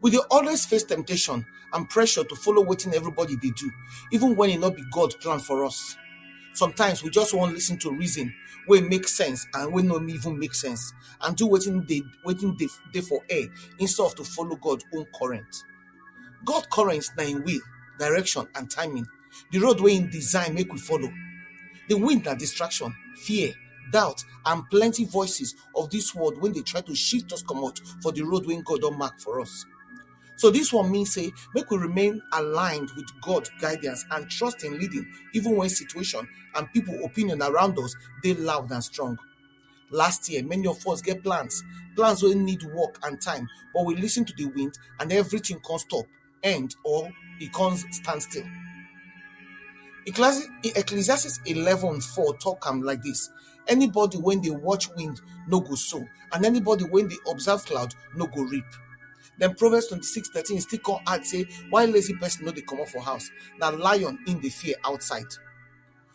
We dey always face temptation and pressure to follow wetin everybody dey do, even when e no be God plan for us. Sometimes we just wan listen to reason wey make sense and wey no even make sense and do wetin dey wetin dey dey for air instead of to follow God own current. God current na im will, direction and timing, the road wey im design make we follow. The wind na distraction, fear, doubt and plenty voices of this world when they try to shift us come out for the road when God don't mark for us. So this one means say make we remain aligned with God guidance and trust in leading, even when situation and people opinion around us they loud and strong. Last year, many of us get plans, plans wey need work and time, but we listen to the wind and everything come stop. end or it comes stand still. Ecclesi- Ecclesiastes 11 4 talk am like this. Anybody when they watch wind no go sow, and anybody when they observe cloud no go reap. Then Proverbs 26 13 still come add say, why lazy person no dey comot for house? Na lion in the fear outside.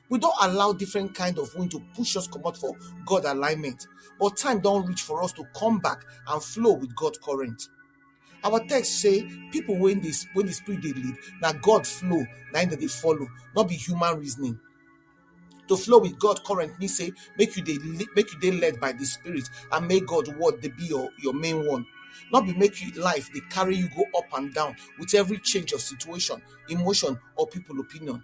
We don't allow different kind of wind to push us comot for God alignment, but time don reach for us to come back and flow with God current. Our text say people when they when the spirit they lead, now God flow, now that they follow, not be human reasoning. To flow with God current means say make you they make you they led by the spirit and make God what they be your, your main one. Not be make you life they carry you go up and down with every change of situation, emotion, or people opinion.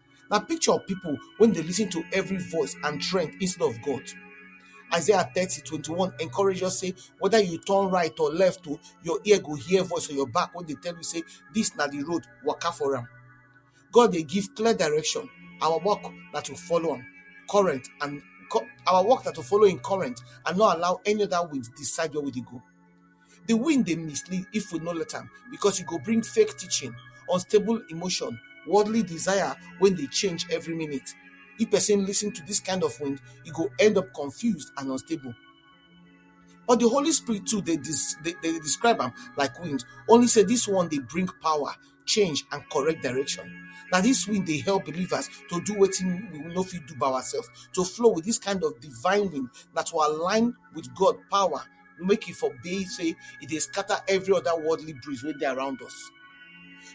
na picture of pipo wey dey lis ten to every voice and trend instead of god isaiah thirty twenty one encourage us say whether you turn right or left o your ear go hear voice for your back wey dey tell you say this na the road waka for am god dey give clear direction our work na to follow am current and our work na to follow him current and not allow any other wind decide where we dey go Di wind dey mislead if we no let am because e go bring fake teaching, unstable emotion, worldly desire wey dey change every minute. If pesin lis ten to dis kind of wind, e go end up confused and unstable. But di Holy Spirit too dey dey describe am like wind, only sey dis one dey bring power, change and correct direction. Na dis wind dey help believers to do wetin we no fit do by ourselves, to flow with dis kind of divine wind, na to align with God power. make e for be say e dey scatter every other worldly breeze wey dey around us.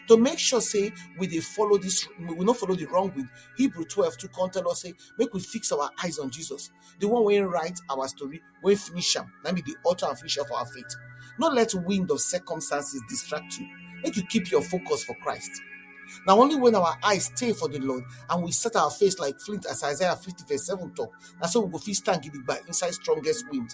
To make sure say we dey follow this, we no follow the wrong wind, Hebrew 12 to come tell us say make we fix our eyes on Jesus, the one wey write our story, wey finish am, na be the author and finisher of our faith. No let wind of circumstances distract you. Make you keep your focus for Christ. Now only when our eyes stay for the Lord and we set our face like flint as Isaiah 50 verse 7 talk, na so we go fit stand gidigba inside strongest wind.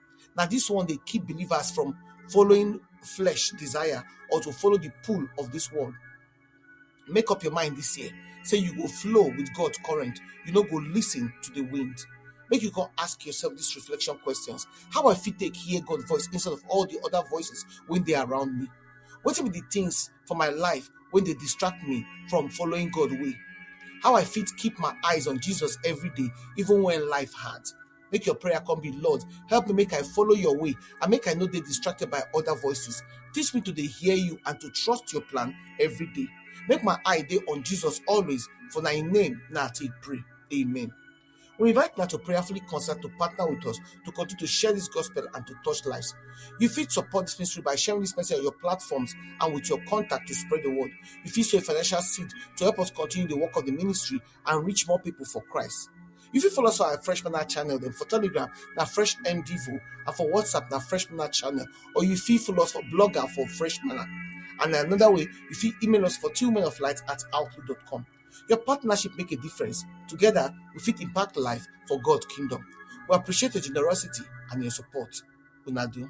Now, this one they keep believers from following flesh desire or to follow the pull of this world. Make up your mind this year. Say you go flow with God's current. You no go listen to the wind. Make you go ask yourself these reflection questions. How I fit take hear God's voice instead of all the other voices when they are around me? What be the things for my life when they distract me from following God way? How I fit keep my eyes on Jesus every day, even when life hard? Make your prayer come be, Lord, help me make I follow your way and make I not be distracted by other voices. Teach me to dey hear you and to trust your plan every day. Make my eye day on Jesus always, for thy name now take pray. Amen. We invite now to prayerfully concert to partner with us to continue to share this gospel and to touch lives. You fit support this ministry by sharing this message on your platforms and with your contact to spread the word. You fit sow a financial seed to help us continue the work of the ministry and reach more people for Christ. You fit follow us for our Fresh Manna channel, then for Telegram, na Fresh MDivo, and for WhatsApp, na Fresh Manna channel, or you fit follow us for Blogger for Fresh Manna. And another way, you fit email us for two men of light at outlook.com. Your partnership make a difference. Together, we fit impact life for God's kingdom. We appreciate your generosity and your support. Una do.